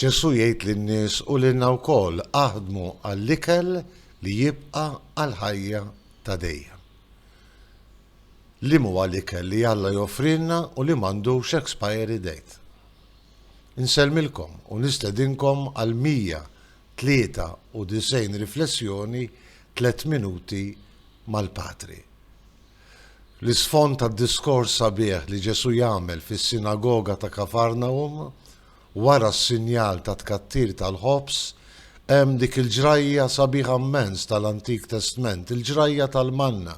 Ġesù jgħid lin-nies u lilna wkoll, aħdmu għall-ikel li jibqa' għall-ħajja ta' dejjem. Liemhuwa l-ikel li Alla joffrilna u li m'għandux expiry date? Insellmilkom u nistedinkom għal 193 riflessjoni Tliet Minuti mal-Patri. L-isfond tad-diskors sabiħ li Ġesù jagħmel fis-sinagoga ta' Kafarnahum wara s-sinjal tat-tkattir tal-ħobż hemm dik il-ġrajja sabiħa mmens tal-Antik Testment, il-ġrajja tal-manna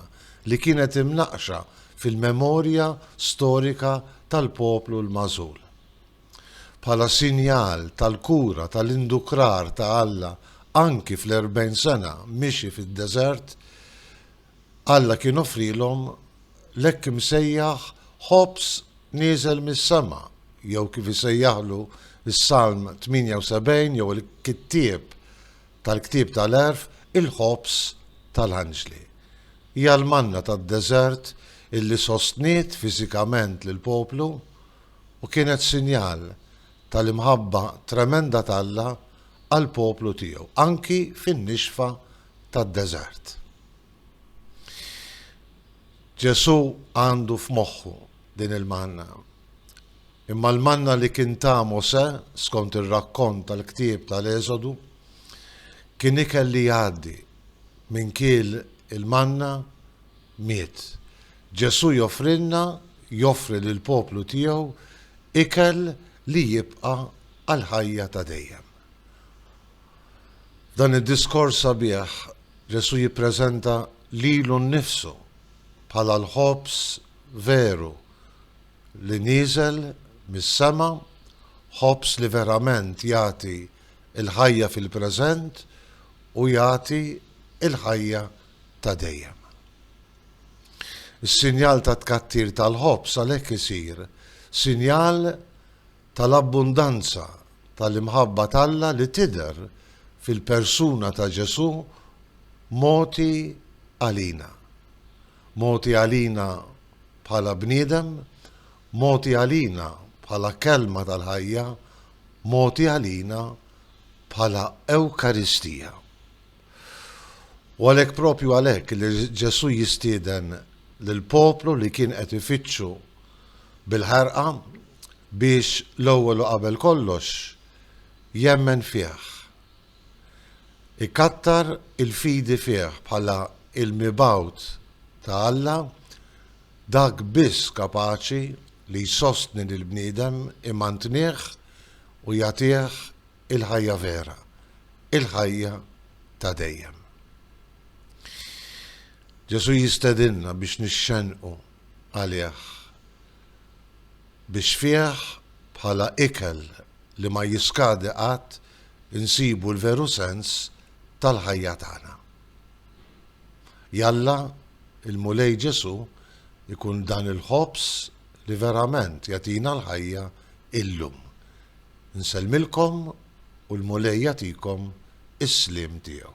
li kienet imnaqqxa fil-memorja storika tal-poplu l-magħżul. Bħala sinjal tal-kura tal-indukrar ta' Alla anki fl-erbgħin sena miexi fid-deżert, Alla kien offrielhom l-hekk imsejjaħ ħobż nieżel mis-sema, jew kif isejjaħlu s-Salm 78 jew il-kittieb tal-ktieb tal-għerf il-ħobż tal-anġli. Hija l-manna tad-deżert illi sostniet fiżikament lill-poplu u kienet sinjal tal-imħabba tremenda t'Alla għall-poplu tiegħu, anki fin-nixfa tad-deżert. Ġesù għandu f'moħħu din il-manna. Imma l-manna li kien ta' Mosè, skont ir-rakkont tal-ktieb tal-Eżodu, kien ikel li jgħaddi minn kiel il-manna miet. Ġesù joffrilna, joffri lill-poplu tiegħu ikel li jibqa' għall-ħajja ta' dejjem. F'dan id-diskors sabiħ, Ġesù jippreżenta lilu nnifsu bħala l-ħobż veru li nieżel mis-sema, ħobż li verament jagħti l-ħajja fil-preżent u jagħti l-ħajja ta' dejjem. Is-sinjal tat-tkattir tal-ħobż għalhekk isir sinjal tal-abbundanza tal-imħabba t'Alla li tidher fil-persuna ta' Ġesù mogħti għalina. Mogħti għalina bħala bniedem, mogħti għalina bħala Kelma tal-ħajja, mogħti għalina bħala Ewkaristija. U għalhekk propju għalhekk li Ġesù jistieden lill-poplu li kien qed ifittxu bil-ħerqa biex l-ewwel u qabel kollox jemmen fih, ikattar il-fidi fih bħala l-mibgħut ta' Alla, dak biss kapaċi li jsostni lill-bniedem, imantnih u jagħtih il-ħajja vera, il-ħajja ta' dejjem. Ġesù jistedinna biex nixxennqu. għalih, biex fih, bħala ikel li ma jiskadi qatt, insibu l-veru sens tal-ħajja tagħna. Jalla l-Mulej Ġesù jkun dan il-ħobż li verament jagħtina l-ħajja illum. Nsellmilkom u l-Mulej jagħtikom is-sliem tiegħu.